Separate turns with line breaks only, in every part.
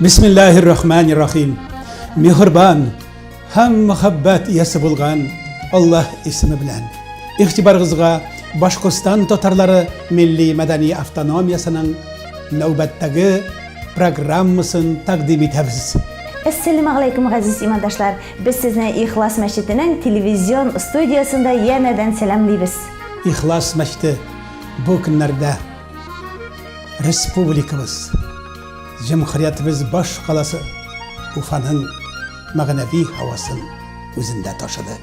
Бисмиллаһир-рахманир-рахим. Мехрбан һәм мәхәббәт иясе булган Аллаһ исеме белән. Игътибарыгызга Башкортстан татарлары милли мәдәни автономиясенең нәүбәттәге программасын тәкъдим итәбез. Әссәләмә
галәйкүм, газиз имандашлар! Без сезне Ихлас мәчетенең телевизион студиясендә янәдән сәламлибез. Ихлас
мәчете бу көннәрдә республикабыз, Җөмһүриятебез баш каласы Уфаның мәгънәви һавасын үзендә ташыды.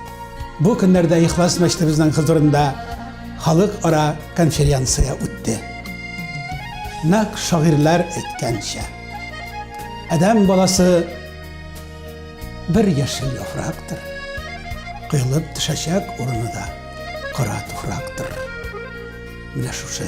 Бу көннәрдә Ихлас мәчетебезнең хозурында халыкара конференция үтте. Нәкъ шагыйрьләр әйткәнчә, адәм баласы бер яшел яфрактыр, коелып төшәчәк урыны да кара туфрактыр. Менә шушы.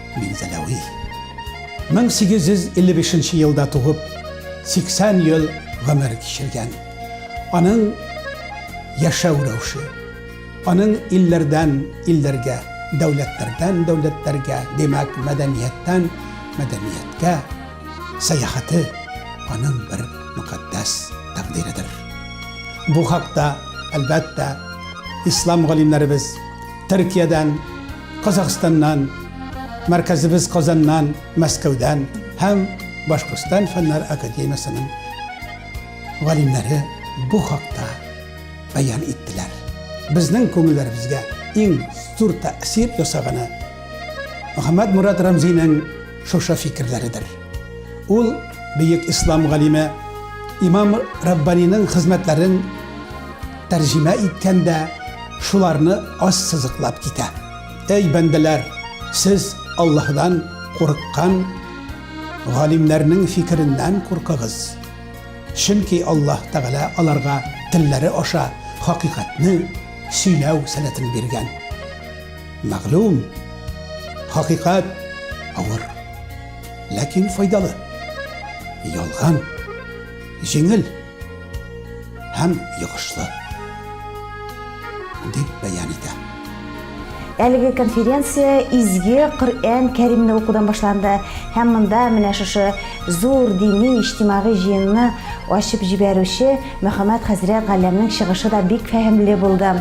Минзәләви. 1855 нче елда туып, 80 ел гомер кичергән. Аның яшәү рәвеше, аның илләрдән илләргә, дәүләтләрдән дәүләтләргә, димәк, мәдәнияттән мәдәнияткә сәяхәте аның бер мөкатдәс тәкъдиредер. Бу хакта, әлбәттә, ислам галимнәребез Төркиядән Казахстаннан, мәркәзебез Казаннан, Мәскәүдән һәм Башкортстан фәннәр академиясенең галимнәре бу хакта баян иттеләр. Безнең күңелләребезгә иң зур тәэсир ясаганы Мөхәммәд Мурат Рамзинең шушы фикерләридер. Ул бөек ислам галиме Имам Раббаниның хезмәтләрен тәрҗемә иткәндә шуларны аз сызыклап китә. Әй бәндәләр, сез Аллаһдан курыккан галимнәрнең фикереннән куркыгыз. Чөнки Аллаһ Тәгалә аларга телләре аша хакыйкатьне сөйләү сәләтен биргән. Мәгълүм, хакыйкать авыр. ләкин файдалы. Ялган, җиңел һәм йогышлы дип бәян итә.
Әлеге конференция изге Коръән Кәримне укудан башланды һәм монда менә шушы зур дини иҗтимагый җыенны ачып җибәрүче Мөхәммәд хәзрәт Галләмнең чыгышы да бик фәһемле булды.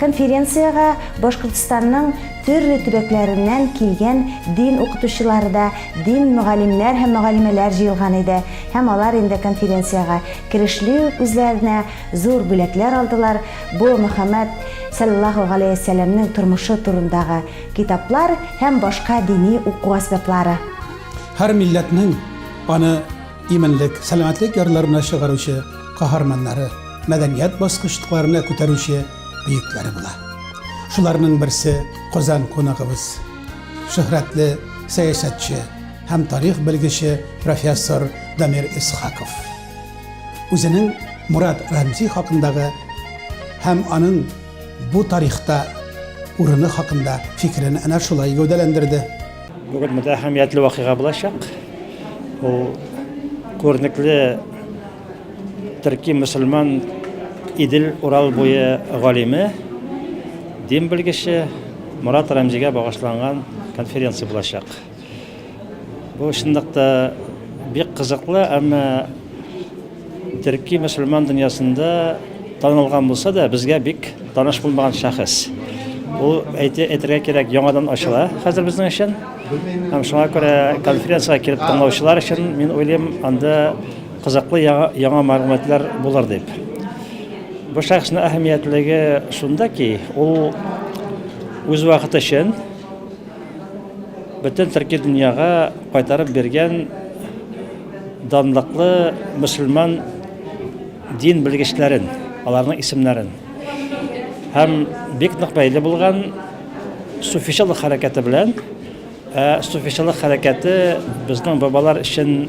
Конференциягә Башкортстанның төрле төбәкләреннән килгән дин укытучылары да, дин мөгаллимнәр һәм мөгаллимәләр җыелган иде һәм алар инде конференциягә керешли үк үзләренә зур бүләкләр алдылар, бу Мөхәммәд салләллаһу галәйһи сәламнең тормышы турындагы китаплар һәм башка дини уку әсбаплары. Һәр
милләтнең аны. иминлек, сәламәтлек ярларына чыгаручы каһарманнары, мәдәният баскычтыкларына күтәрүче бөекләре була. Шуларның берсе Казан кунагыбыз, шөһрәтле сәясәтче һәм тарих белгече профессор Дамир Исхаков. Үзенең Мурат Рәмзи хакындагы һәм аның бу тарихта урыны хакында фикерен әнә шулай гәүдәләндерде. Бүген монда
әһәмиятле вакыйга булачак. Ул күренекле төрки мөселман Идел Урал буе галиме, дин белгече Мурат Рәмзигә багышланган конференция булачак. Бу чынлыкта бик кызыклы, әмма Төрки мөселман дөньясында танылган булса да, безгә бик таныш булмаган шәхес. Ул әйтә әйтергә кирәк, яңадан ачыла хәзер безнең өчен. Һәм шуңа күрә конференциягә килеп тыңлаучылар өчен мин уйлыйм, анда кызыклы яңа, яңа мәгълүматлар булыр дип. Бу шәхеснең әһәмиятлеге шунда ки, ул үз вакыты өчен Бөтен төрки дөньяга кайтарып биргән данлыклы мөселман дин белгечләрен, аларның исемнәрен. Һәм бик нык бәйле булган суфичылык хәрәкәте белән. Ә суфичылык хәрәкәте безнең бабалар өчен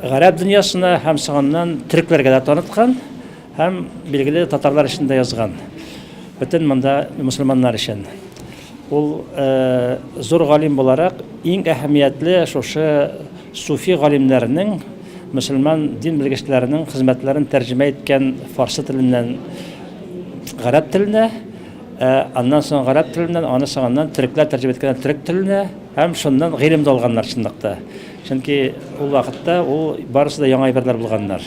Гарәп дөньясына һәм соңыннан төрекләргә дә таныткан һәм билгеле татарлар өчен дә язган. Бөтен монда мусульманнар өчен. Ул зур галим буларак иң әһәмиятле шушы суфи галимнәренең, мөселман дин белгечләренең хезмәтләрен тәрҗемә иткән фарсы теленнән гарәп теленә, аннан соң гарәп теленнән, аны соңыннан төрекләр тәрҗемә иткәннәр төрек теленә һәм шуннан гыйлем дә алганнар чынлыкта. Чөнки ул вакытта ул барысы да яңа әйберләр булганнар.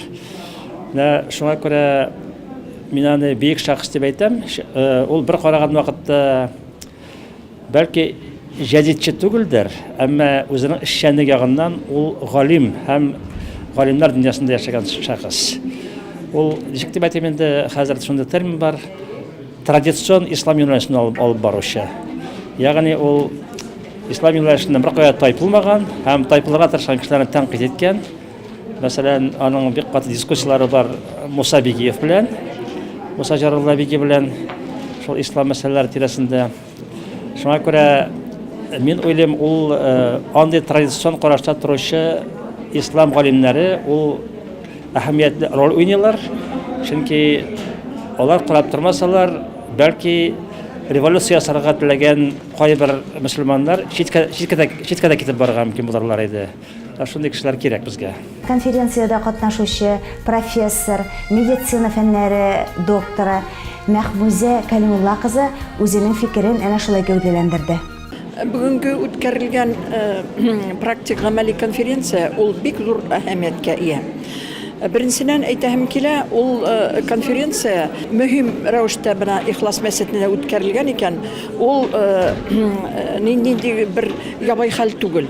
Менә шуңа күрә мин аны бөек шәхес дип әйтәм. Ул бер караган вакытта бәлки җәдитче түгелдер, әмма үзенең эшчәнлек ягыннан ул галим һәм галимнар дөньясында яшәгән шәхес. Ул ничек дип әйтим инде, хәзер шундый термин бар. Традицион ислам юнәлешен алып баручы. Ягъни ул ислам юнәлешеннән беркая тайпылмаган һәм тайпылырга тырышкан кешеләрне тәнкыйть иткән. Мәсәлән, аның бик каты дискуссияләре бар Муса Бигиев белән, Муса Җарулла Биги белән шул ислам мәсьәләләре тирәсендә. Шуңа күрә мин уйлыйм, ул андый традицион карашта торучы ислам галимнәре ул әһәмиятле роль уйныйлар, чөнки алар карап тормасалар, бәлки революция ясарга теләгән кайбер мөселманнар читкә читкә дә китеп барырга мөмкин булырлар иде. Ә шундый кешеләр кирәк безгә. Конференциядә
катнашучы, профессор, медицина фәннәре докторы Мәхмүзә Кәлимулла кызы үзенең фикерен әнә шулай гәүдәләндерде. Бүгенге
үткәрелгән практик гамәли конференция ул бик зур әһәмияткә ия. Беренчедән әйтәһем килә, ул конференция мөһим рәвештә менә Ихлас мәчетендә үткәрелгән икән, ул нинди бер ябай хәл түгел.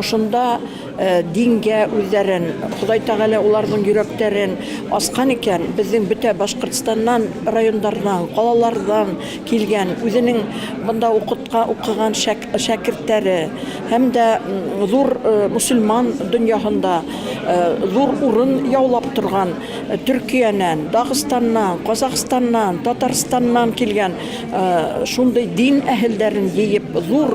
Ошында дингә үзләрен, Ходай Тәгалә уларның йөрәкләрен аскан икән, безнең бөтә Башкортстаннан, районнардан, калалардан килгән, үзенең монда укытка укыган шәкертләре һәм дә зур мөселман дөньяһында зур урын яулап торган Төркиянән, Дагыстаннан, Казахстаннан, Татарстаннан килгән шундый дин әһелләрен җыеп, зур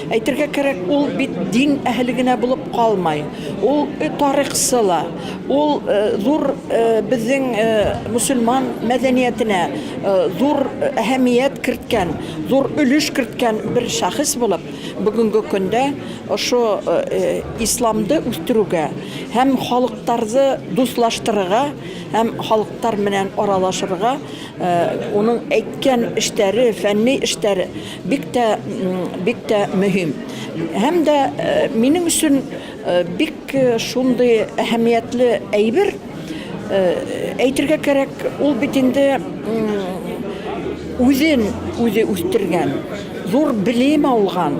Әйтергә кирәк, ул бит дин әһеле генә булып калмай, ул тарихчы ла, ул зур безнең мөселман мәдәниятенә зур әһәмият керткән, зур өлеш керткән бер шәхес булып, бүгенге көндә ошо исламды үстерүгә һәм халыктарзы дуслаштырырга һәм халыктар менән аралашырга, Уның әйткән эштәре, фәнни эштәре бик тә, бик тә мөһим. Һәм дә минем өчен бик шундый әһәмиятле әйбер, әйтергә кирәк, ул бит инде үзен үзе үстергән, зур белем алган,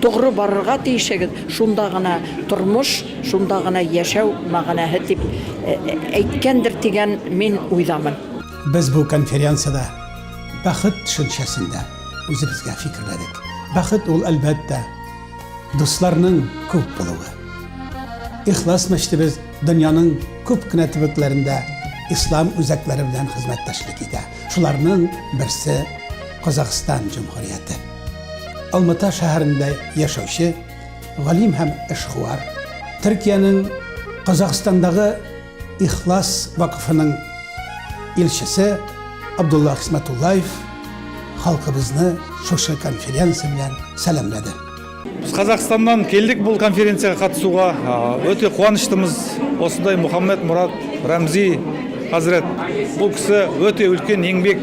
Тугры барырга тиешегез, шунда гына тормыш, шунда гына яшәү мәгънәһе дип әйткәндер дигән мин уйдамын. Без бу
конференциядә бәхет төшенчәсен дә үзебезгә фикерләдек. Бәхет ул, әлбәттә, дусларның күп булуы. Ихлас мәчетебез дөньяның күп кенә төбәкләрендә ислам үзәкләре белән хезмәттәшлек итә. Шуларның берсе Казахстан Җөмһүрияте. Алмата шәһәрендә яшәүче галим һәм эшкуар, Төркиянең Казахстандагы Ихлас вакыфының илчесе Абдулла Хисмәтуллаев халкыбызны шушы конференция белән сәламләде. Без
Казахстаннан килдек бу конференциягә катнашуга. Өте куаныштымыз. Осындай Мухаммед Мурат Рәмзи хәзрәт. Бу кеше өте өлкән еңбек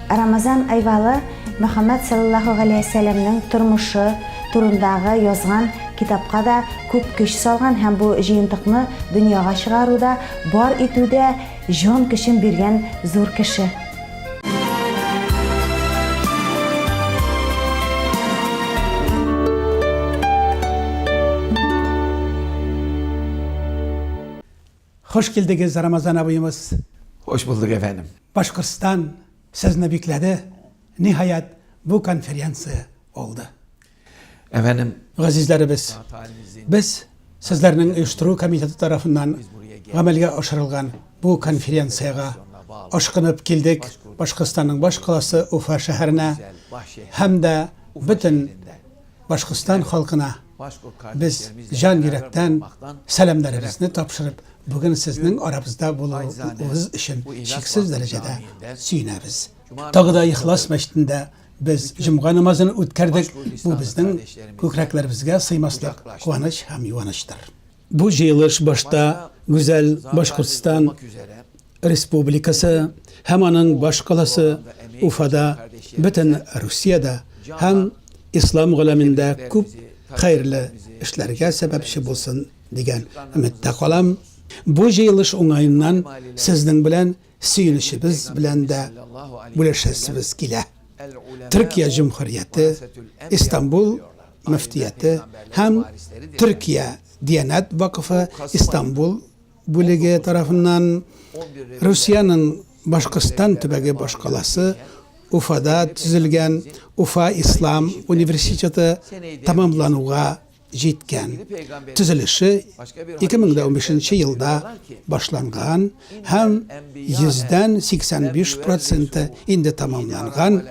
Рамазан Айвалы Мөхәммәд саллаллаһу галәйһи ва сәләмнең тормышы турындагы язган китапка да күп көч салган һәм бу җыентыкны дөньяга чыгаруда, бар итүдә җан көчен биргән зур кеше.
Хуш килдегез, Рамазан абыемыз! Хуш булдык,
әфәндем! Башкортстан
сезне бикләде, ниһаять, бу конференция булды.
Әфәндем! Газизләребез,
без сезләрнең оештыру комитеты тарафыннан гамәлгә ашырылган бу конференциягә ашкынып килдек, Башкортстанның баш каласы Уфа шәһәренә һәм дә бөтен Башкортстан халкына без җан йөрәктән сәламнәребезне тапшырып, бүген сезнең арабызда булуыгыз өчен чиксез дәрәҗәдә сөенәбез. Тагы да Ихлас мәчетендә без җомга намазын үткәрдек, бу безнең күкрәкләребезгә сыймаслык куаныч һәм юанычтыр. Бу җыелыш башта гүзәл Башкортстан Республикасы һәм аның баш каласы Уфада, бөтен Русиядә һәм ислам галәмендә күп хәерле эшләргә сәбәпче булсын дигән өметтә калам. Бу җыелыш уңаеннан сезнең белән сөенечебез белән дә бүлешәсебез килә. Төркия җөмһүрияте, Истанбул мөфтияте һәм Төркия Диянәт вакыфы Истанбул бүлеге тарафыннан Русиянең Башкортстан төбәге башкаласы Уфада төзелгән Уфа ислам университеты тәмамлануга җиткән. Төзелеше 2015 нче елда башланган һәм 100-85 проценты инде тәмамланган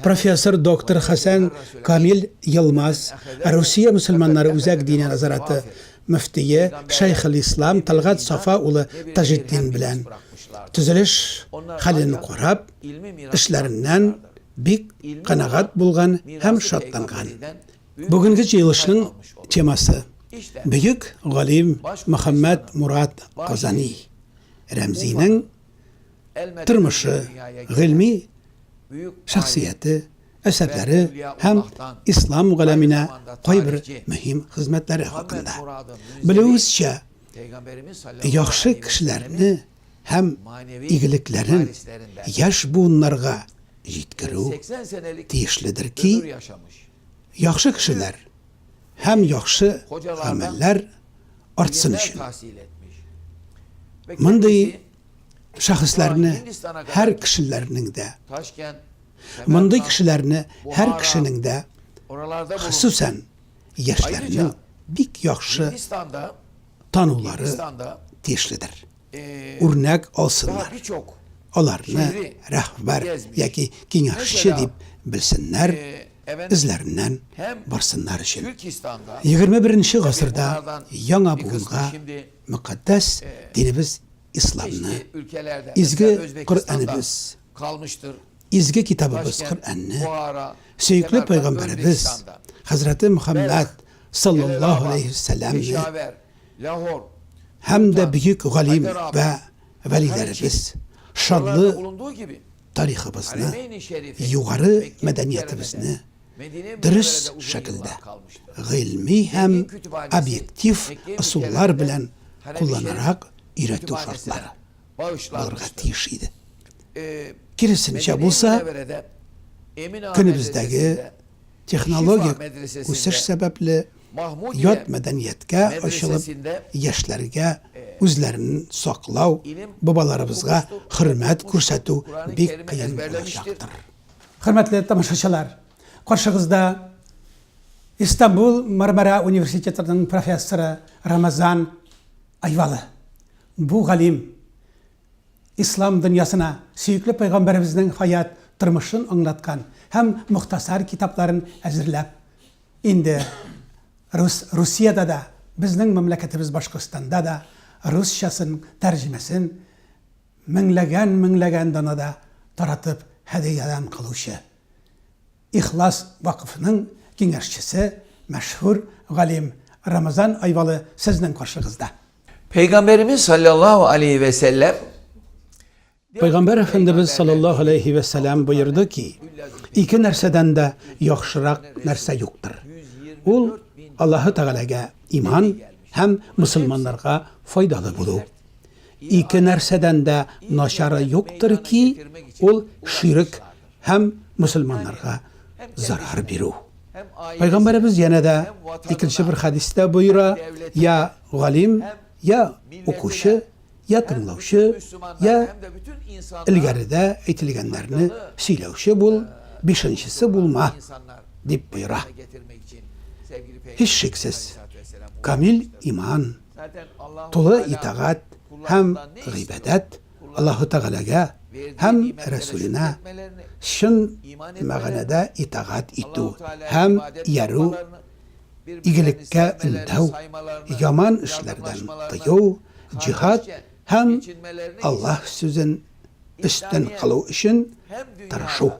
профессор доктор Хәсән Камил Йылмаз, Русия мөселманнары үзәк диния назараты мөфтие шәйхелислам Тәлгать Сафа улы Таҗетдин белән төзелеш хәлен карап, эшләреннән бик канәгать булган һәм шатланган. Бүгенге җыелышның темасы Бөек галим Мөхәммәд Мурат Казани Рәмзинең тормышы, гыйльми шәхсияте, әсәрләре һәм ислам галәменә кайбер мөһим хезмәтләре хакында. Белүебезчә, яхшы кешеләрне һәм игелекләрен яшь буыннарга җиткерү тиешледер ки, яхшы кешеләр һәм яхшы гамәлләр артсын өчен. Мондый шәхесләрне һәр кешеләрнең дә, мондый кешеләрне һәр кешенең дә, хосусән яшьләрнең бик яхшы танулары тиешледер. Үрнәк алсыннар. Аларны рәхбәр яки киңәшче дип белсеннәр, эзләреннән барсыннар өчен. 21 гасырда яңа буынга мөкатдәс динебез исламны,
изге
Коръәнебез калмыштыр.
Изге китабыбыз
Коръәнне, сөекле пәйгамбәребез хәзрәте
Мөхәммәд саллаллаһу
алейһи вә
сәлләмне һәм дә
бөек галим вә вәлиләребез шанлы
тарихыбызны, югары
мәдәниятебезне
дөрес шәкелдә, гыйльми һәм
объектив ысуллар
белән
кулланарак өйрәтү шартлары. булырга
тиеш иде. Киресенчә
булса,
көнебездәге технологик
үсеш
сәбәпле,
ят
мәдәнияткә
ачылып, яшьләргә үзләрен саклау, бабаларыбызга хөрмәт
күрсәтү бик
кыен
булачактыр.
Хөрмәтле тамашачылар! Каршыгызда Истанбул Мармара университетының профессоры Рамазан Айвалы. Бу галим Ислам дөньясына сөекле пәйгамбәребезнең хаят тормышын аңлаткан һәм мохтасар китапларын әзерләп, инде рус Русиядә дә, безнең мәмләкәтебез Башкортстанда да русчасын тәрҗемәсен меңләгән-меңләгән данада таратып һәдиядән калучы Ихлас вакыфының киңәшчесе мәшһүр галим Рамазан Айвалы сезнең каршыгызда. Пәйгамбәребез
саллаллаһу алейһи вә сәлләм
Пәйгамбәр Әфәндебез саллаллаһу алейһи вә сәлләм боерды ки, ике нәрсәдән дә яхшырак нәрсә юктыр. Ул Аллаһы Тәгаләгә иман һәм мөселманнарга файдалы булу. Ике нәрсәдән дә начары юктыр ки, ул ширек һәм мусульманнарга зарар бирү. Пайгамбарыбыз янә дә икенче бер хадистә боера, я галим, я укучы, я тыңлаучы, я илгәрдә әйтелгәннәрне сөйләүче бул, бишенчесе булма, дип боера. Һич шиксез, камил иман, тулы итагат һәм гыйбадәт Аллаһу Тәгаләгә һәм Рәсүленә чын мәгънәдә итагать итү һәм иярү, игелеккә өндәү, яман эшләрдән тыю, җиһад һәм Аллаһ сүзен өстен кылу өчен тырышу,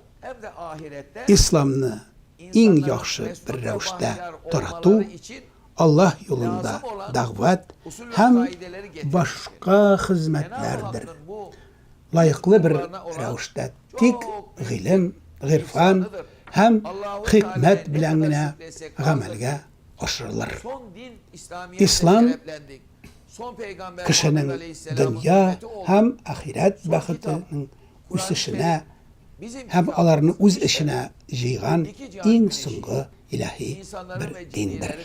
Исламны иң яхшы бер рәвештә тарату, Аллаһ юлында дәгъват һәм башка хезмәтләрдер лаеклы бер рәвештә тик гыйлем, гыйрфан һәм хикмәт белән генә гамәлгә ашырылыр. Ислам кешенең дөнья һәм ахирәт бәхетенең үсешенә һәм аларны үз эченә җыйган иң соңгы илаһи бер диндер.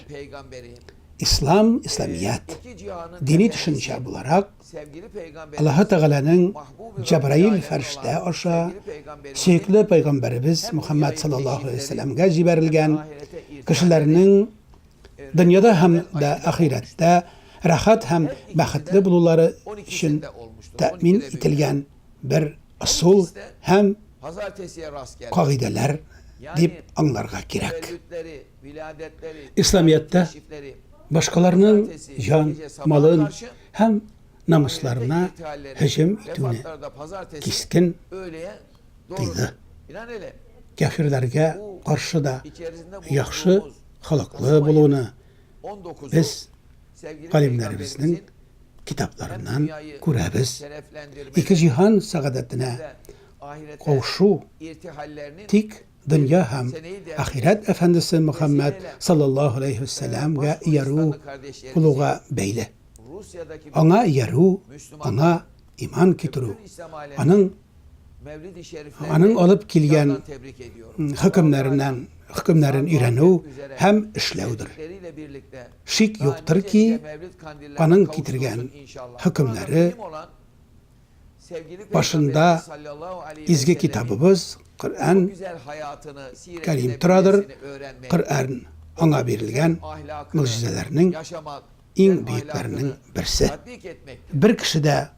Ислам, Исламият, дини төшенчә буларак, Аллаһы Тәгаләнең Җәбраил фәрештә аша сөекле пәйгамбәребез Мухаммад саллаллаһу алейһи ва сәлләмгә җибәрелгән, кешеләрнең дөньяда һәм дә ахирәттә рәхәт һәм бәхетле булулары өчен тәэмин ителгән бер ысул һәм кагыйдәләр дип аңларга кирәк. Исламияттә башкаларның җан, малын һәм намысларына һөҗүм итүне кискен тыйды. Кәфирләргә каршы да яхшы холыклы булуны без галимнәребезнең китапларыннан күрәбез, ике җиһан сәгадәтенә каушу, тик дөнья һәм ахирәт әфәндесе Мөхәммәд саллаллаһу галәйһи ва сәламгә иярү булуга бәйле. Аңа иярү, аңа иман китерү, аның аның алып килгән хөкемнәреннән хөкемнәрен өйрәнү һәм эшләүдер. Шик юктыр ки, аның китергән хөкемнәре башында изге китабыбыз Коръән Кәрим торадыр, Коръән аңа бирелгән могҗизәләрнең иң бөекләренең берсе. Бер кеше дә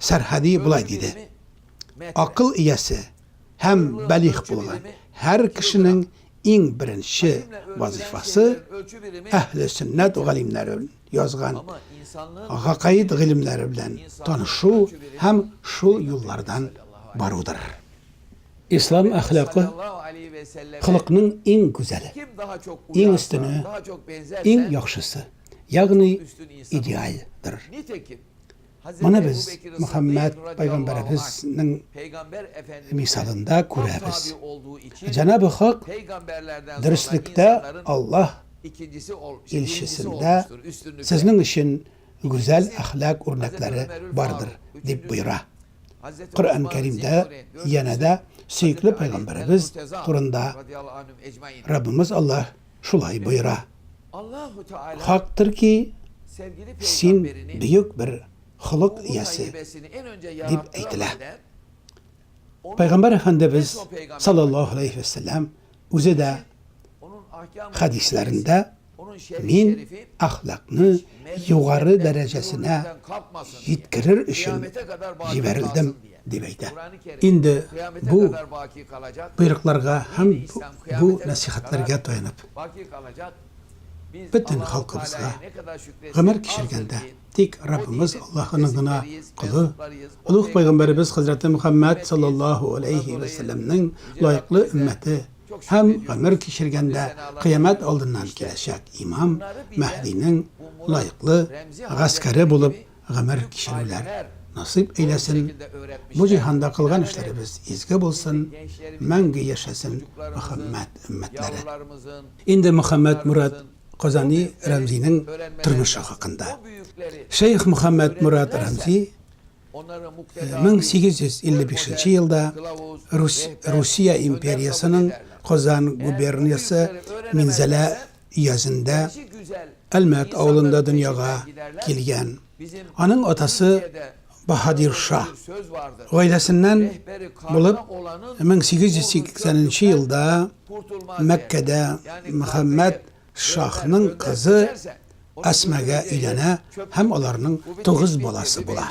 Сәрхәди болай диде, Акыл иясе һәм бәлигъ булган һәр кешенең иң беренче вазыйфасы Әһле сөннәт галимнәре язган
гакаид гыйлемнәре
белән танышу һәм шул юллардан барудыр. Ислам әхлакы
холыкның иң гүзәле,
иң
өстене,
иң
яхшысы,
ягъни идеаль
дыр. Моны без
Мөхәммәд
пәйгамбәребезнең мисалында күрәбез.
Җанабы
Хак дөреслектә
Аллаһ
илчесендә сезнең өчен
гүзәл әхлак үрнәкләре бардыр, дип боера. Коръән
Кәримдә янә
дә сөекле пәйгамбәребез
турында Раббымыз Аллаһ
шулай боера.
Хактыр ки,
син бөек бер холык иясе,
дип әйтелә. Пәйгамбәр Әфәндебез,
салләллаһу галәйһи вә сәлләм, үзе дә
хәдисләрендә,
Мин әхлакны югары дәрәҗәсенә
җиткерер өчен җибәрелдем, Дип
әйтә. Инде
бу боерыкларга һәм
бу нәсыйхәтләргә таянып,
бөтен халкыбызга, гомер кичергәндә, тик
Раббыбыз Аллаһының гына колы, олуг
пәйгамбәребез хәзрәте
Мөхәммәд салләллаһу
аләйһи вә
сәлләмнең лаеклы өммәте
һәм
гомер кичергәндә кыямәт алдыннан киләчәк имам Мәһдинең лаеклы гаскәре булып гомер кичерүләр насыйп әйләсен, бу
җиһанда кылган
эшләребез изге булсын, мәңге
яшәсен
Мөхәммәд
өммәтләре.
Инде
Мөхәммәд
Мурат Казани Рәмзинең тормышы хакында.
Шәех Мөхәммәд
Мурат Рәмзи 1855 нче елда
Русия
империясының Казан губерниясе Минзәлә иясендә
Әлмәт авылында
дөньяга
килгән.
Аның
атасы
Баһадир
ша. Гаиләсеннән
булып 1880 елда Мәккәдә
Мөхәммәд
шаһның кызы
Әсмәгә өйләнә һәм
аларның тугыз баласы
була.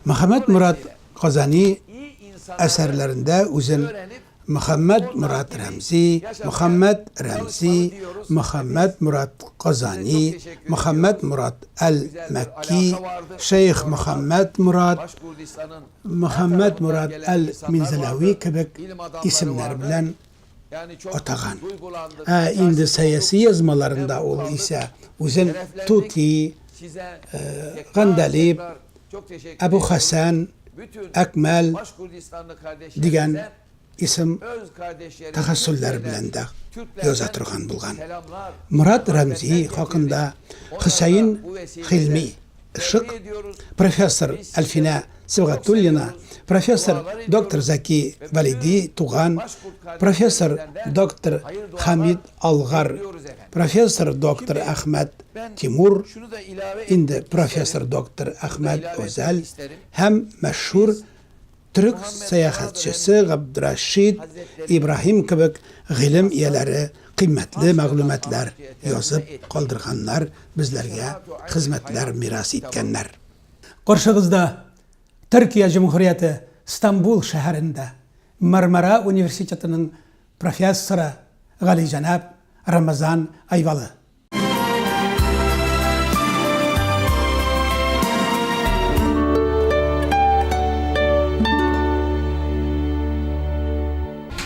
Мөхәммәдморат Казани
әсәрләрендә үзен
Мөхәммәт
Мурат
Рәмзи, Мөхәммәт Рәмзи, Мөхәммәт Мурат Казани, Мөхәммәт Мурат Әл-Мәкки, Шәех Мөхәммәт Мурат,
Мөхәммәт
Мурат Әл-Минзәләви
кебек исемнәр белән атаган.
Ә
инде сәяси
язмаларында ул исә үзен Тути,
Гандәлиб, Әбу Хәсән,
Әкмәл
дигән
исем
тәхәссүлләре белән
дә яза торган
булган.
Мурат
Рәмзи
хакында Хөсәен Хилми Шык, профессор Әлфинә Сибгатуллина, профессор доктор Заки Валиди Туган, профессор доктор Хамид Алгар Профессор доктор Әхмәт Тимур,
инде профессор
доктор Әхмәт Гозәл һәм мәшһүр төрек сәяхәтчесе Габдрәшид Ибраһим кебек гыйлем ияләре кыйммәтле мәгълүматлар язып калдырганнар, безләргә хезмәтләр мирас иткәннәр. Каршыгызда, Төркия Җөмһүрияте Стамбул шәһәрендә Мармара университетының профессоры Галиҗәнап Рамазан Айвалы.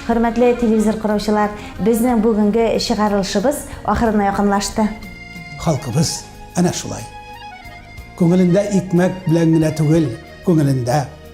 Хөрмәтле телевизор караучылар, безнең бүгенге чыгарылышыбыз ахырына якынлашты. Халкыбыз
әнә шулай. Күңелендә икмәк белән генә түгел, күңелендә